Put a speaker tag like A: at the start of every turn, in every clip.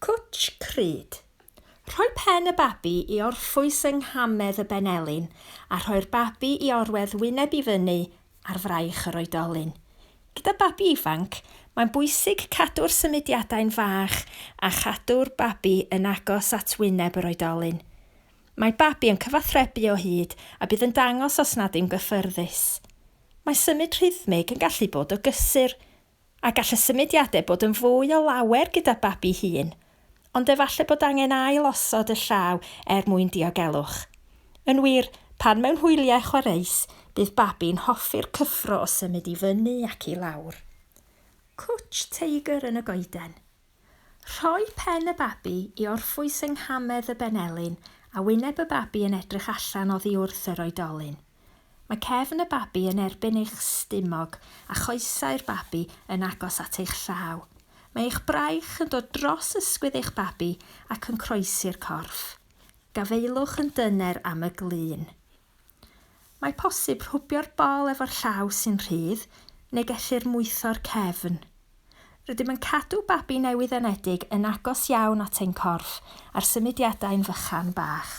A: Cwtsh crud. Rhoi pen y babi i orffwys yng nghamedd y benelin a rhoi'r babi i orwedd wyneb i fyny ar fraich yr oedolyn. Gyda babi ifanc, mae'n bwysig cadw'r symudiadau'n fach a chadw'r babi yn agos at wyneb yr oedolyn. Mae babi yn cyfathrebu o hyd a bydd yn dangos os nad yw'n gyffyrddus. Mae symud rhythmig yn gallu bod o gysur, a gall y symudiadau bod yn fwy o lawer gyda'r babi hŷn, ond efallai bod angen ail-osod y llaw er mwyn diogelwch. Yn wir, pan mewn hwyliau chwareus, bydd babi'n hoffi'r cyffro o symud i fyny ac i lawr. Cwtsh teigr yn y goeden. Rhoi pen y babi i orffwys yng nghamedd y benelin a wyneb y babi yn edrych allan oddi wrth yr oedolyn. Mae cefn y babi yn erbyn eich stumog a choesau'r babi yn agos at eich llaw. Mae eich braich yn dod dros ysgwydd eich babi ac yn croesi'r corff. Gafaelwch yn dyner am y glun. Mae posib rhwbio'r bol efo'r llaw sy'n rhydd, neu gellir mwtho'r cefn. Rydym yn cadw babi newydd-anedig yn agos iawn at ein corff a'r symudiadau'n fychan bach.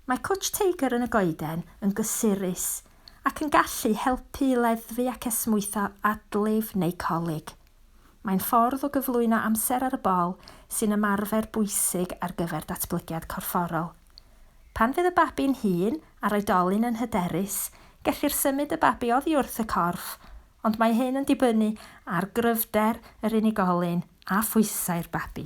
A: Mae Cwtsh Teigr yn y goeden yn gysurus ac yn gallu helpu i leddfu ac esmwytho adlif neu colig. Mae'n ffordd o gyflwyno amser ar y bol sy'n ymarfer bwysig ar gyfer datblygiad corfforol. Pan fydd y babi'n hŷn a'r oedolyn yn hyderus, gellir symud y babi oddi wrth y corff, ond mae hyn yn dibynnu ar gryfder yr unigolyn a phwysau'r babi.